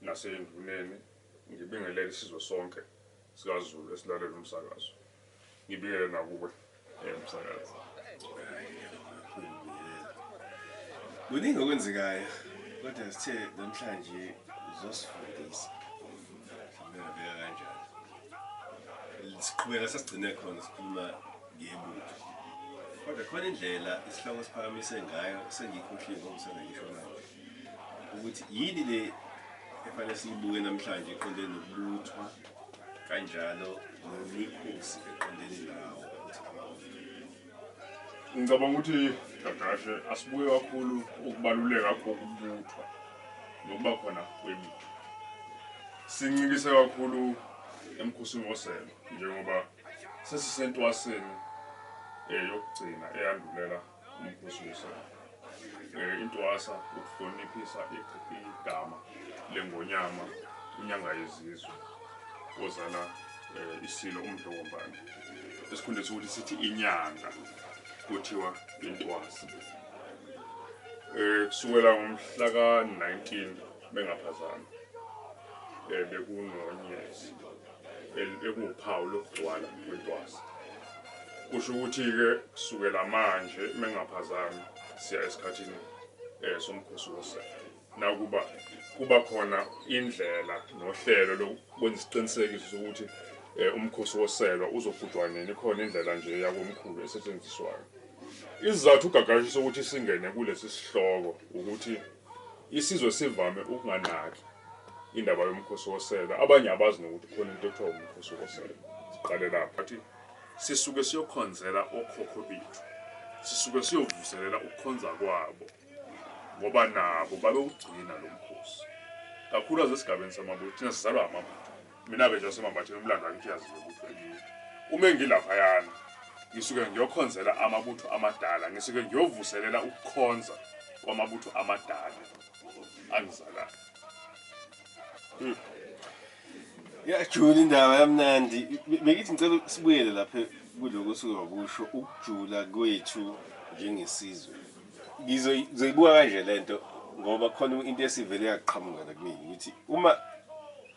naseyinduneni ngibingelele isizwe sonke sikaZulu esilalela umsakazo ngibingele nakuwe eh, msakazi kuningi okwenzekayo kodwa sithe namhlanje uzosifundisa ngiyabeka kanjani siqhubeka sasigcine khona sikhuluma ngebutho kodwa khona indlela isihloko siphakamise ngayo sengiyikhohliwe ngokusana ngisho manje ukuthi yini le efanele siyibuke namhlanje eqondene nokubuthwa kanjalo nemikhosi eqondene nawo ukuthi abawona ngicabanga ukuthi gagashe asibuke kakhulu ukubaluleka kokubuthwa nokuba khona kwemithi sincikise kakhulu emkhosini woselo njengoba sesisentwaseni eh, yokugcina eyandulela Ngibusise. Eh, intwasa ukuhloniphisa igama lengonyama inyanga yezizwe ozala eh, isilo umdlokombane esikhundleni sokuthi sithi inyanga kuthiwa intwasa um kusukela ngomhla ka-19 Bengaphazami eh, bekunonyezi ekuwuphawu lokugcwala kwentwasa. Kusho ukuthi-ke kusukela manje bengaphazami siya esikhathini um somkhosi wosela nakuba kuba khona indlela nohlelo lokwenza isiqinisekiso sokuthi um umkhosi woselwa uzogujwa nini khona indlela nje yakomkhulu esetshenziswayo isizathu ugagashisa ukuthi singene kulesi sihloko ukuthi Isizwe sivame ukunganaki indaba yomkhosi wosela, abanye abazi nokuthi kukhona into ekuthiwa umkhosi wosela. Siqale lapho. Bathi sisuke siyokhonzela okhokho bethu, sisuke siyovuselela ukukhonza kwabo ngoba nabo babewugcina lo mkhosi, kakhulukazi esigabeni samabutho, thina sizalwa amabutho. Mina-ke nje waseMambatheni umlando wakithi uyaziwa ukuthi wenini. Uma engilaphayana, ngisuke ngiyokhonzela amabutho amadala, ngisuke ngiyovuselela ukukhonza kwamabutho amadala angizalayo. Hmm. Yajula indaba yamnandi. Bengithi ngicela sibuyele lapha kuloko osuke wakusho ukujula kwethu njengesizwe. ngizoyibuka kanje lento ngoba khona into esivele yaqhamuka la kumina ukuthi uma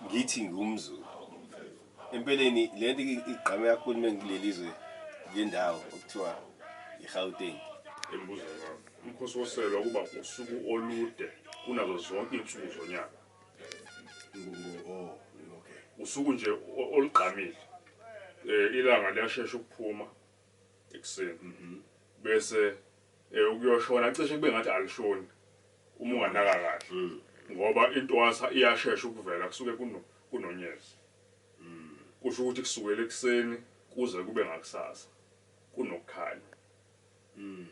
ngithi ngumzulu empeleni le nto igqame kakhulu uma ngileli zwe le ndawo okuthiwa i-gauteng embuzo wami umkhosi woselwa kuba usuku olude kunazo zonke iy'nsuku zonyaka oh, usuku nje olugqamile um ilanga liyashesha ukuphuma ekuseni bese eh, ukuyoshona cishe kube ngathi alishoni uma unganaka kahle mm. ngoba intwasa iyashesha ukuvela kusuke kuno kunonyezi mm. kusho ukuthi kusukela ekuseni kuze kube ngakusasa kunokukhanya mm.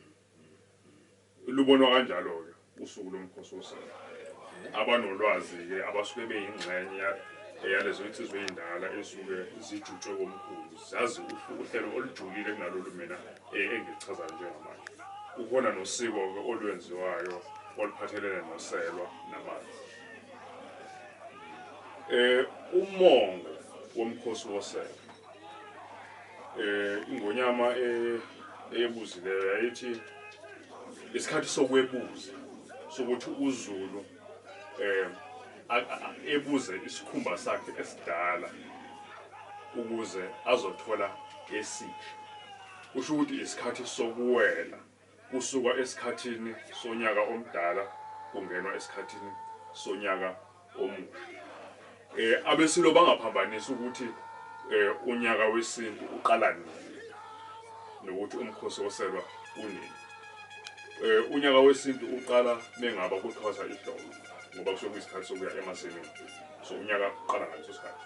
Lubonwa kanjalo-ke usuku loMkhosi woSango. Abanolwazi-ke abasuke beyingxenya yalezo nsizwa ezindala ezisuke zijutshwe komkhulu zazi uhlu uhlelo olujulile kunalolu mina engiluchazayo njengamanje. Kukhona nosiko-ke olwenziwayo oluphathelene noselwa namanzi. Umongo woMkhosi woSelwa eh ingonyama eh, eyebuzileyo yayithi isikhathi sokwebuza sokuthi uZulu eh ebuze isikhumba sakhe esidala ukuze azothola esisha kusho ukuthi isikhathi sokuwela Kusukwa esikhathini sonyaka omdala kungenwa esikhathini sonyaka omusha. Um abeSilo bangaphambanisa ukuthi um unyaka wesintu uqala nini nokuthi umkhosi woselwa unini. Um unyaka wesintu uqala mengaba kuthwasa ihlobo ngoba kusuke kuyisikhathi sokuya emasimini. So unyaka uqala ngaleso sikhathi.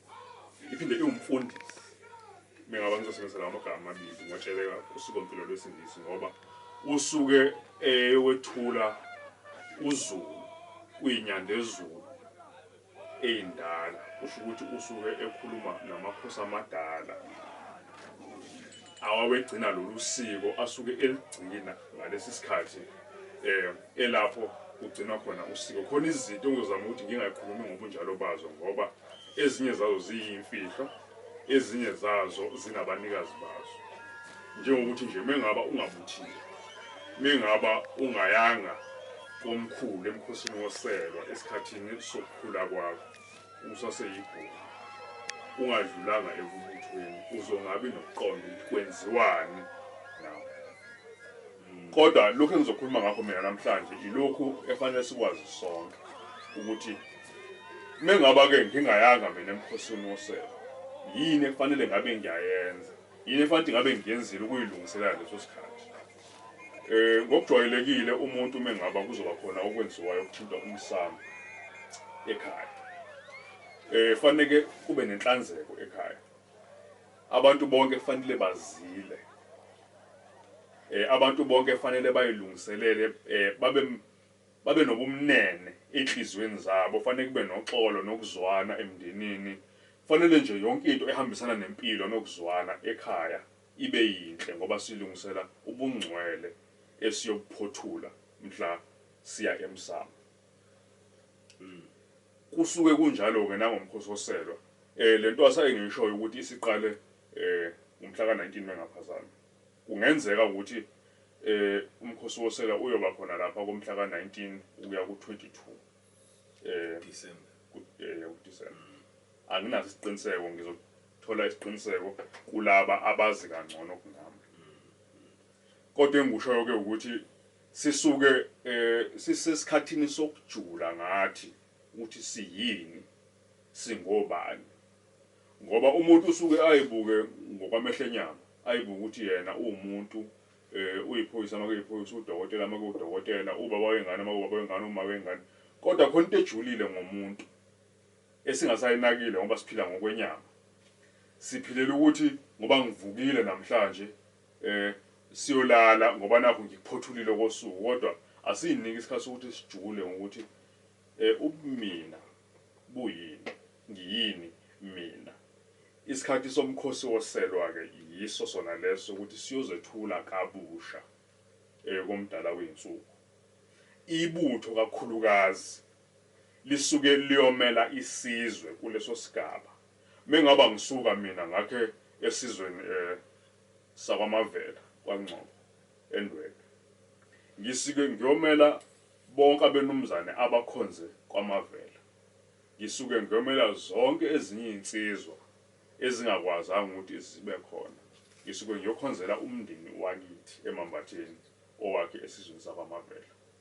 Iphinde iwumfundisi. Mina ngaba ngizosebenzisa lawo magama amabili ngotsheleka usikompilo lwesingisi ngoba usuke eyowethula uzulu kuyinyandezulu eyindala kusho ukuthi usuke ekhuluma namakhosi amadala awawegcina lolu siko asuke eligcina ngalesi sikhathi um elapho kugcinwa khona usiko khona izinto engizozama ukuthi ngingayikhulumi ngobunjalo bazo ngoba Ezinye zazo ziyimfihlo, ezinye zazo zinabanikazi bazo. Njengokuthi nje mengaba ungabuthile, mengaba ungayanga komkhulu emkhosini woselwa esikhathini sokukhula kwakho usaseyibhungu, ungadlulanga ekubuthweni, uzongabi nokuqonda ukuthi kwenziwani nawe. Kodwa lokhu engizokhuluma ngakho mina namhlanje ilokhu efanele sikwazi sonke ukuthi mengaba-ke ngingayanga mina emkhosini wosebe, yini efanele ngabe ngiyayenza? Yini efanele ngabe ngiyenzile ukuyilungiselela leso sikhathi? Eh ngokujwayelekile umuntu mengaba kuzoba khona okwenziwayo okuthinta umsamo ekhaya. Eh fanele kube nenhlanzeko ekhaya. Abantu bonke fanele bazile. Eh, abantu bonke fanele bayilungiselele, eh, babe, babe nobumnene enhliziyweni zabo, fanele kube noxolo nokuzwana emndenini. Fanele nje yonke into ehambisana nempilo nokuzwana ekhaya ibe yinhle ngoba silungisela ubungcwele esiyobuphothula mhla siya emsamo. Kusuke kunjalo-ke nangoMkhosi woSelwa. Um le ntwasa engiyishoyo ukuthi isiqale um ngomhla ka-19 mengaphazami. Kungenzeka ukuthi um uMkhosi woSelwa uyoba khona lapha komhla ka-19 ukuya ku-22 um kuDisemba. Anginaso isiqiniseko, ngizothola isiqiniseko kulaba abazi kangcono kunami. Kodwa engikushoyo-ke ukuthi. Sisuke sisesikhathini sokujula ngathi ukuthi siyini, singobani. Ngoba umuntu usuke ayibuke ngokwamehlo enyama, ayibuke ukuthi yena uwumuntu, uyiphoyisa uma kuyiphoyisa, uwudokotela uma kuwudokotela, ubaba wengane uma kuwubaba wengane, umama wengane. Kodwa khona into ejulile ngomuntu esingasayinakile ngoba siphila ngokwenyama. Siphilela ukuthi ngoba ngivukile namhlanje, Eh siyolala ngoba nakhu ngikuphothulile okosuku kodwa asiyinike isikhathi sokuthi sijule ngokuthi eh ubumina buyini, ngiyini mina. Isikhathi somkhosi woselwa-ke yiso sona leso sokuthi siyozethula kabusha eh koMdala wezinsuku. Ibutho kakhulukazi lisuke liyomela isizwe kuleso sigaba. Mengaba ngisuka mina ngakhe esizweni sakwaMavela kwaNgcobo eNdwedwe ngisike ngyomela bonke abenumzane abakhonze kwaMavela ngisuke ngyomela zonke ezinye izinsizwa ezingakwazanga ukuthi zibe khona ngisuke ngyokhonzela umndeni wakithi eMambatheni owakhe esizweni sakwaMavela.